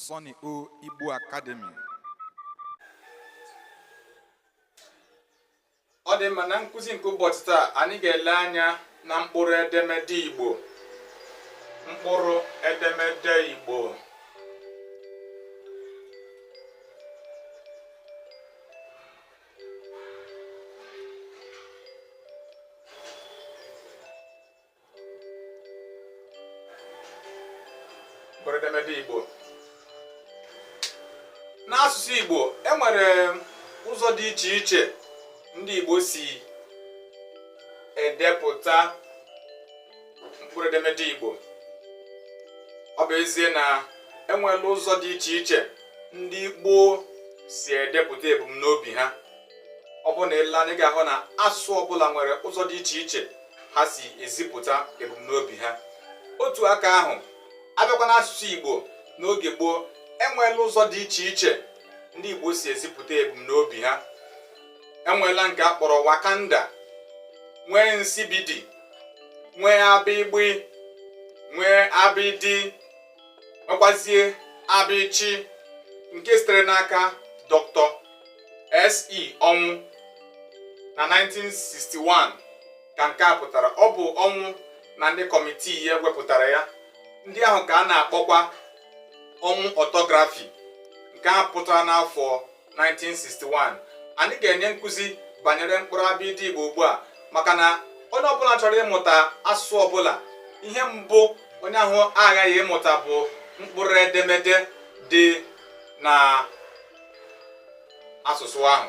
Sonny O Igbo Academy. ọ dị mma na nkụzi nke ụbọchị taa anyị ga-ele anya na mkpụrụ edemede Igbo mkpụrụ edemede Igbo mkpụrụedemede Igbo n'asụsụ Igbo e nwere ụzọ dị iche iche ndị Igbo si edepụta mkpụrụ edemede Igbo ọ bụ ezie na enwela ụzọ dị iche iche ndị Igbo si edepụta ebumnobi ha ọ bụrụ na ile anya ị ga-ahụ na asụsụ ọbụla nwere ụzọ dị iche iche ha si ezipụta ebumnobi ha otu aka ahụ a bịakwa n'asụsụ Igbo n'oge gboo enweela ụzọ dị iche iche ndị Igbo si ezipụta ebumnobi ha enweela nke a kpọrọ wakanda nwee nsibidi nwee abịgbị nwee abịdị nwekwazie abịchị nke sitere n'aka Doctor S E Ọnwụ na 1961 ka nke a pụtara ọ bụ Ọnwụ na ndị kọmitii ya wepụtara ya ndị ahụ ka a na-akpọkwa Ọnwụ orthography nke a pụtara n'afọ 1961 anyị ga-enye nkụzi banyere mkpụrụ abịdị Igbo ugbu a maka na onye ọbụla chọrọ ịmụta asụsụ ọbụla ihe mbụ onye ahụ aghaghị ịmụta bụ mkpụrụ edemede dị na asụsụ ahụ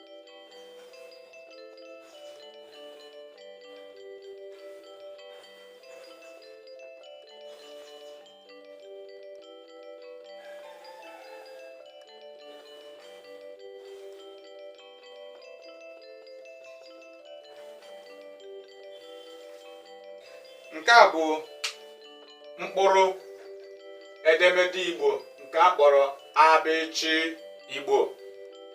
nke a bụ mkpụrụ edemede igbo nke a kpọrọ abịchị igbo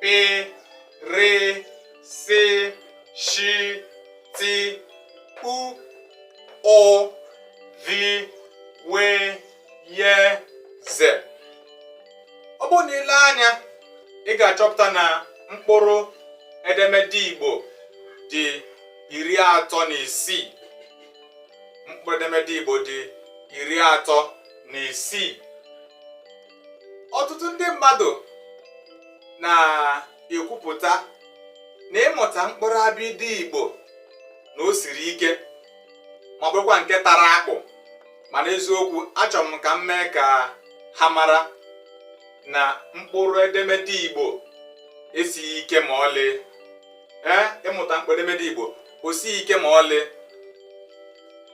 pị rị sị shị tị u ụ vị wị yị zị ọ bụrụ na ile anya ị ga-achọpụta na mkpụrụ edemede Igbo dị iri atọ na isii mkpụrụ edemede Igbo dị iri atọ na isii ọtụtụ ndị mmadụ na-ekwupụta na ịmụta mkpụrụ abịdị Igbo na o siri ike ma bụrụkwa nke tara akpụ mana eziokwu achọrọ m ka m mee ka ha mara na mkpụrụ edemede Igbo esighị ike ma ọlị ee ịmụta mkpụrụ edemede Igbo o sighị ike ma ọlị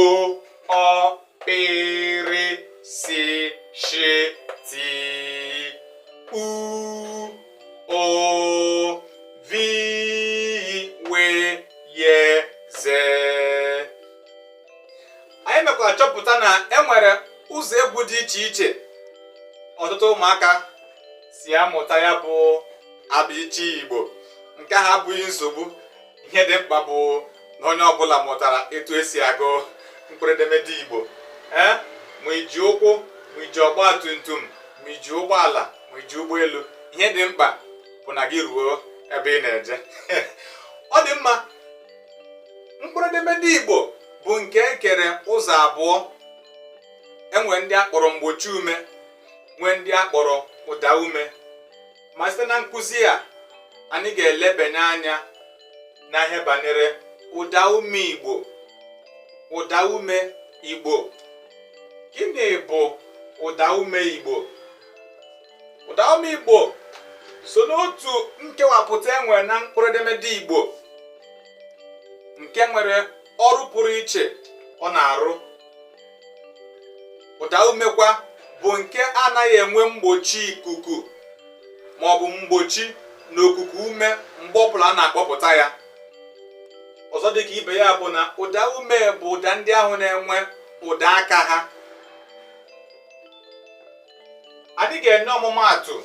o ọ pị rị si shi ti u ụ vi we ye ze anyị mekwara chọpụta na e nwere ụzọ egwu dị iche iche ọtụtụ ụmụaka si amụta ya bụ abịịchịị igbo nke ahụ abụghị nsogbu ihe dị mkpa bụ na onye ọbụla mụtara etu esi agụ mkpụrụ edemede Igbo ee ma iji ụkwụ ma iji ọgba tum tum ma iji ụgbọala ma iji ụgbọelu ihe dị mkpa bụ na gị ruo ebe ị na-eje ọ dị mma mkpụrụ edemede Igbo bụ nke ekere ụzọ abụọ enwere ndị akpọrọ mgbochi ume nwee ndị akpọrọ ụda ume ma site na nkụzi a anyị ga-elebanye anya na ihe banyere ụda ume Igbo ụda ume Igbo gịnị bụ ụda ume Igbo ụda ume Igbo so n'otu nkewapụta enwere na mkpụrụ edemede Igbo nke nwere ọrụ pụrụ iche ọ na-arụ ụda umekwa bụ nke anaghị enwe mgbochi ikuku ma ọ bụ mgbochi na okuku ume mgbe ọbụla a na-akpọpụta ya ọzọ dịka ibe ya bụ na ụda ume bụ ụda ndị ahụ na-enwe ụda aka ha anyị ga-enye ọmụmaatụ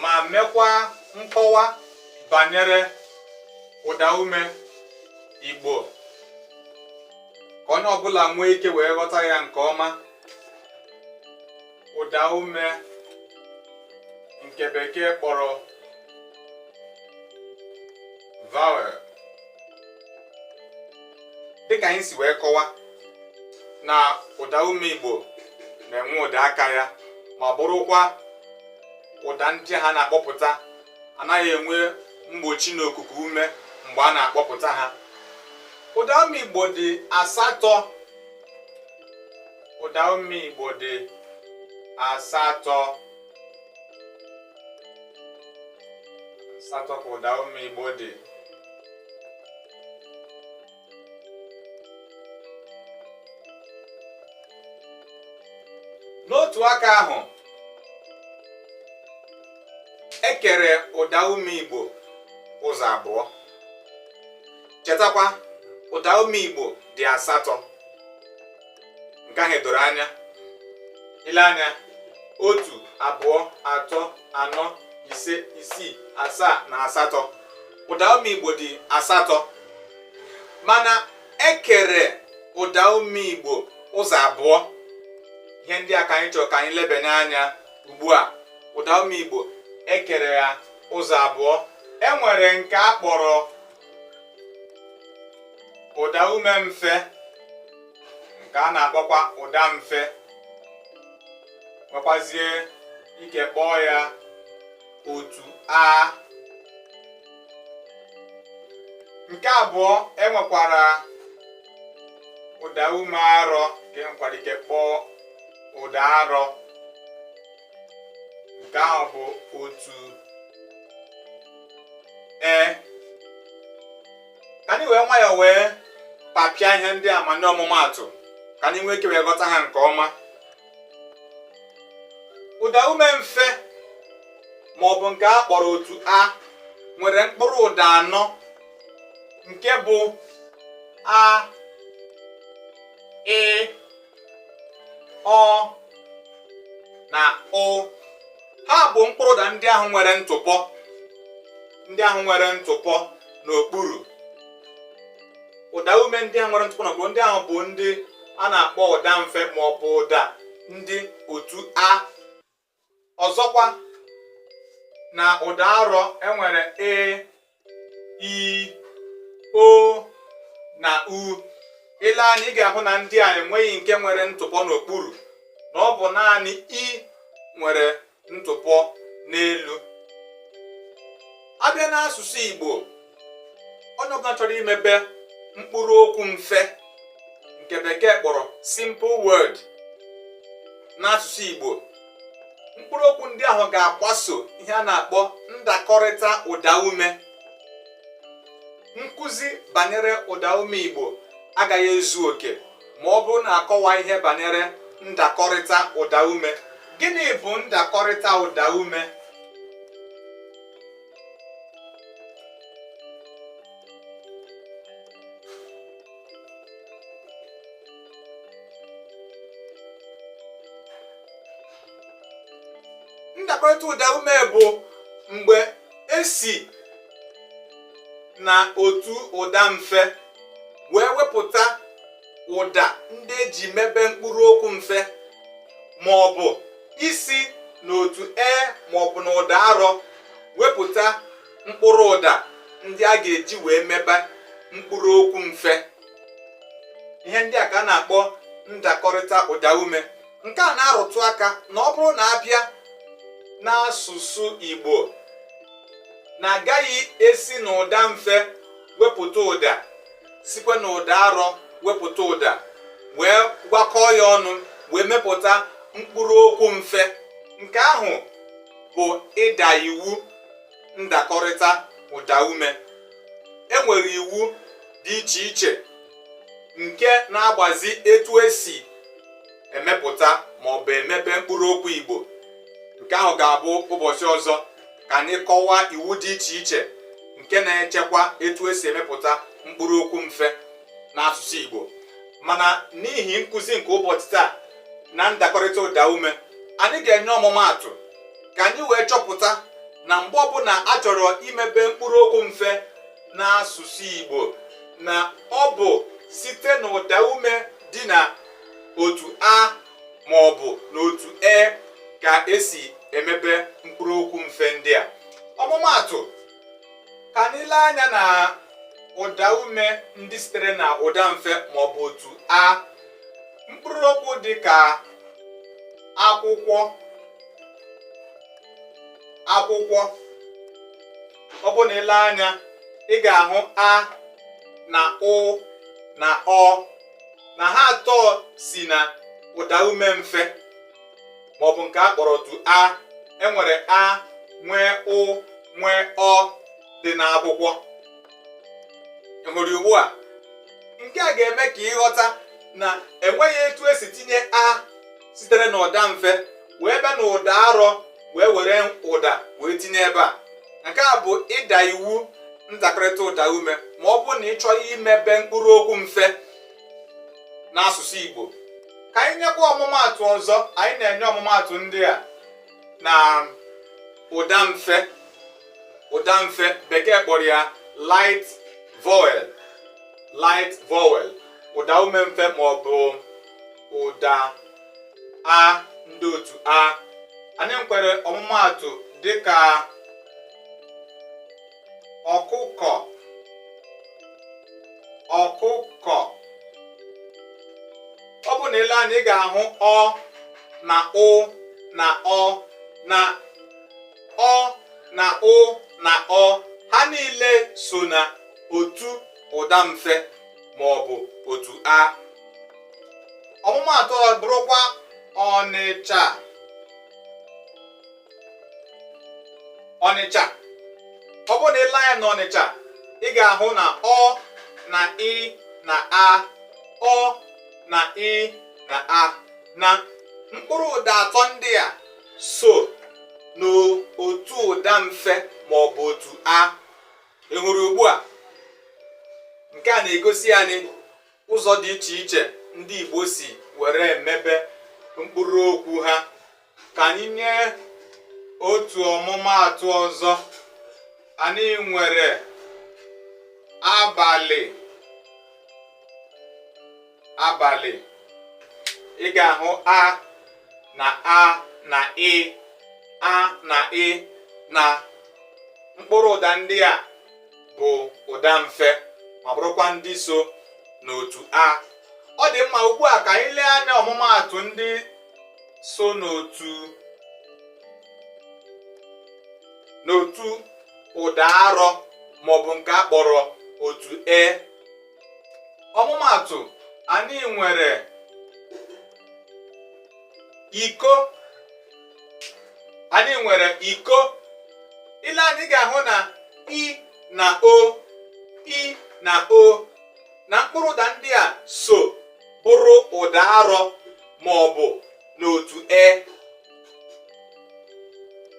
ma mekwa nkọwa banyere ụda ume Igbo ka onye ọbụla nwee ike wee ghọta ya nke ọma ụda ume nke bekee kpọrọ vowel dịka anyị si wee kọwa na ụda ume Igbo na-enwe ụda aka ya ma bụrụkwa ụda ndị a na-akpọpụta anaghị enwe mgbochi na okuku ume mgbe a na-akpọpụta ha ụda ume igbo dị asatọ ụda ume igbo dị asatọ asatọ ka ụda ume igbo dị n'otu aka ahụ ekere ụda ume igbo ụzọ abụọ chetakwa ụda ume igbo dị asatọ nke ahụ doro anya i lee anya otu abụọ atọ anọ ise isii asaa na asatọ ụda ume igbo dị asatọ mana ekere ụda ume igbo ụzọ abụọ ihe ndị a ka anyị chọrọ ka anyị lebanye anya ugbu a ụda ume igbo ekere ya ụzọ abụọ enwere nke a kpọrọ ụda ume mfe nke a na-akpọkwa ụda mfe nwekwazie ike kpọọ ya otu a nke abụọ enwekwara ụda ume arọ nke enwekwara ike kpọọ ụda arọ nke ahụ bụ otu e ka anyị wee nwayọọ wee kpapịa ihe ndị a ma nye ọmụmaatụ ka anyị nwee ike wee ghọta ha nke ọma ụda ume mfe ma ọ bụ nke a kpọrọ otu a nwere mkpụrụ ụda anọ nke bụ a ị ọ na ụ ha bụ mkpụrụ ụda ndị ahụ nwere ntụpọ ndị ahụ nwere ntụpọ n'okpuru ụda ume ndị ahụ nwere ntụpọ n'okpuru ndị ahụ bụ ndị a na-akpọ ụda mfe ma ọ bụ ụda ndị otu a ọzọkwa na ụda arọ enwere e i o na u i lee anya ị ga-ahụ na ndị a enweghị nke nwere ntụpọ n'okpuru na ọ bụ naanị i nwere ntụpọ n'elu a bịa n'asụsụ Igbo onye ọbụla chọrọ imebe mkpụrụ okwu mfe nke bekee kpọrọ simple word n'asụsụ Igbo mkpụrụ okwu ndị ahụ ga-agbaso ihe a na-akpọ ndakọrịta ụdaume nkụzi banyere ụdaume Igbo agaghị ezu oke ma ọ bụrụ na akọwaghị ihe banyere ndakọrịta ụdaume gịnị bụ ndakọrịta ụdaume ndakọrịta ụda ume bụ mgbe esi na otu ụda mfe wee wepụta ụda ndị eji mebe mkpụrụ okwu mfe ma ọ bụ isi n'otu e ma ọ bụ na ụda arọ wepụta mkpụrụ ụda ndị a ga-eji wee mebe mkpụrụ okwu mfe ihe ndị a ka a na-akpọ ndakọrịta ụda ume nke a na-arụtụ aka na ọ bụrụ na a bịa n'asụsụ Igbo na agaghị esi n'ụda mfe wepụta ụda sikwa na ụda arọ wepụta ụda wee gwakọọ ya ọnụ wee mepụta mkpụrụ okwu mfe nke ahụ bụ ịda iwu ndakọrịta ụda ume enwere iwu dị iche iche nke na-agbazi etu esi emepụta ma ọ bụ emebe mkpụrụ okwu Igbo nke ahụ ga-abụ ụbọchị ọzọ ka anyị kọwaa iwu dị iche iche nke na-echekwa etu esi emepụta mkpụrụ okwu mfe n'asụsụ Igbo mana n'ihi nkụzi nke ụbọchị taa na ndakọrịta ụda ume anyị ga-enye ọmụmaatụ ka anyị wee chọpụta na mgbe ọbụla a chọrọ imebe mkpụrụ okwu mfe n'asụsụ Igbo na ọ bụ site n'ụda ume dị na otu a ma ọ bụ n'otu e ka esi emebe mkpụrụ okwu mfe ndị a ọmụmaatụ ka anyị lee anya na ụda ume ndị sitere na ụda mfe ma ọ bụ otu a mkpụrụ okwu dị ka akwụkwọ akwụkwọ ọ bụ na i lee anya ị ga-ahụ a na ụ na ọ na ha atọ si na ụda ume mfe maọbụ nke a kpọrọ otu a enwere a nwee ụ nwee ọ dị n'akwụkwọ hụrụ ugbu a nke a ga-eme ka ị ghọta na enweghị etu esi tinye a sitere n'ụda mfe wee bịa na ụda arọ wee were ụda wee tinye ebe a nke a bụ ịda iwu ndakọrịta ụda ume ma ọ bụrụ na ị chọrọ imebe mkpụrụ okwu mfe n'asụsụ Igbo ka anyị nyekwa ọmụmaatụ ọzọ anyị na-enye ọmụmaatụ ndị a na ụda mfe ụda mfe bekee kpọrọ ya light vowel light vowel ụda ume mfe ma ọ bụ ụda a ndị otu a anyị nwere ọmụmaatụ dịka ọkụkọ ọkụkọ ọ bụ na i lee anya ị ga-ahụ ọ na ụ na ọ na ọ na ụ na ọ ha niile so na otu ụda mfe ma ọ bụ otu a ọmụmaatụ ọ bụrụkwa ọnịcha ọnịcha ọ bụrụ na i lee anya na ọnịcha ị ga-ahụ na ọ na ị na a ọ na ị na a na mkpụrụ ụda atọ ndị a so n'otu ụda mfe ma ọ bụ otu a ị hụrụ ugbu a nke a na-egosi anyị ụzọ dị iche iche ndị Igbo si were emebe mkpụrụ okwu ha ka anyị nye otu ọmụmaatụ ọzọ anyị nwere abalị abalị ị ga-ahụ a na a na ị a na ị na mkpụrụ ụda ndị a bụ ụda mfe ma bụrụkwa ndị so n'otu a ọ dị mma ugbu a ka anyị lee anya ọmụmaatụ ndị so n'otu n'otu ụda arọ maọbụ nke a kpọrọ otu e ọmụmaatụ anyị nwere iko anyị nwere iko i lee anya ị ga-ahụ na i na o i na o na mkpụrụ ụda ndị a so bụrụ ụda arọ ma ọ bụ n'otu e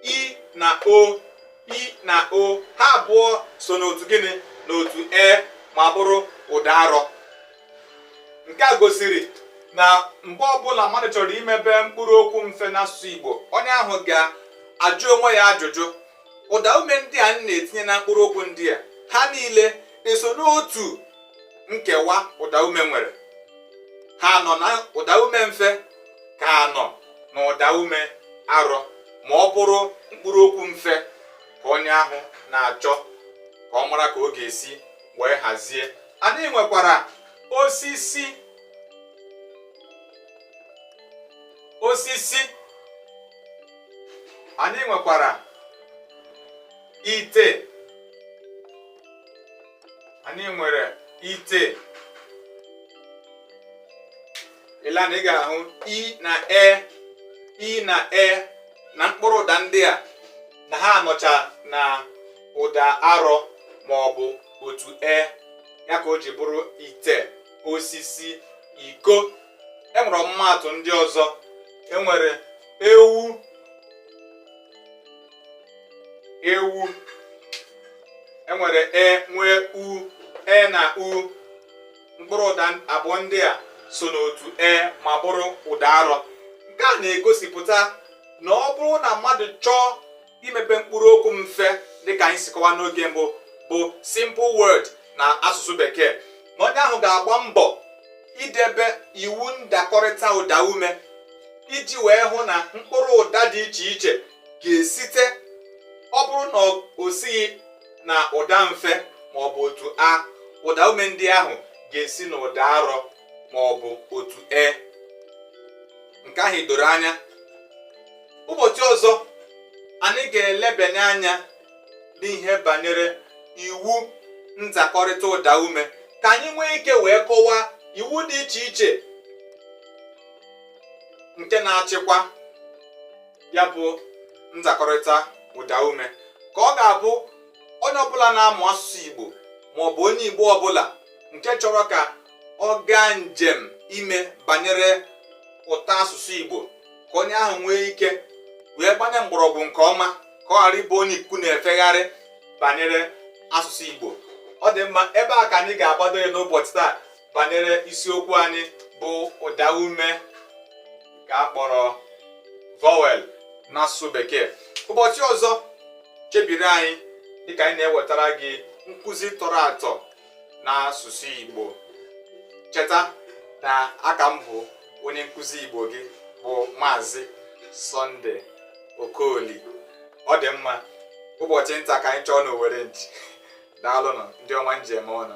i na o i na o ha abụọ so n'otu gịnị n'otu e ma bụrụ ụda arọ nke a gosiri na mgbe ọbụla mmadụ chọrọ imebe mkpụrụ okwu mfe n'asụsụ Igbo onye ahụ ga-ajụ onwe ya ajụjụ ụda ume ndị a na-etinye na mkpụrụ okwu ndị a ha niile eso n'otu nkewa ụdaume nwere ha nọ na ụdaume mfe ka ha nọ na ụda ume arọ ma ọ bụrụ mkpụrụ okwu mfe ka onye ahụ na-achọ ka ọ mara ka ọ ga-esi wee hazie anyị nwekwara osisi osisi anyị nwekwara ite anyị nwere ite i lee anya ị ga-ahụ i na e i na e na mkpụrụ ụda ndị a na ha nọcha na ụda arọ ma ọ bụ otu e ya ka o ji bụrụ ite osisi iko enwere ọmụmaatụ ndị ọzọ enwere ewu ewu enwere e nwee u e na u mkpụrụ ụda abụọ ndị a so n'otu e ma bụrụ ụda arọ nke a na-egosipụta na ọ bụrụ na mmadụ chọọ imebe mkpụrụ okwu mfe dịka anyị si kọwa n'oge mbụ bụ simple word na asụsụ bekee na onye ahụ ga-agba mbọ idebe iwu ndakọrịta ụda ume iji wee hụ na mkpụrụ ụda dị iche iche ga-esite ọ bụrụ na o sighi na ụda mfe ma ọ bụ otu a ụda ume ndị ahụ ga-esi na ụda arọ ma ọ bụ otu e nke ahụ doro anya ụbọchị ọzọ anyị ga-elebanye anya n'ihe banyere iwu nzakọrịta ụda ume ka anyị nwee ike wee kọwaa iwu dị iche iche nke na-achịkwa ya bụ nzakọrịta ụdaume ka ọ ga-abụ onye ọbụla na-amụ asụsụ Igbo ma ọ bụ onye Igbo ọbụla nke chọrọ ka ọ gaa njem ime banyere ụda asụsụ Igbo ka onye ahụ nwee ike wee gbanye mgbọrọgwụ nke ọma ka ọ ghara ịbụ onye ikuku na-efegharị banyere asụsụ Igbo ọ dị mma ebe a ka anyị ga-agbado ya n'ụbọchị taa banyere isiokwu anyị bụ ụda ume nke a kpọrọ vowel n'asụsụ bekee ụbọchị ọzọ chebiri anyị dịka anyị na-ewetara gị nkụzi tọrọ atọ n'asụsụ Igbo cheta na aka m bụ onye nkụzi Igbo gị bụ Maazị Sọnde Okoli ọ dị mma ụbọchị nta ka anyị chụọ n'owere nchi daalụnụ ndị ọma m ji eme ọnụ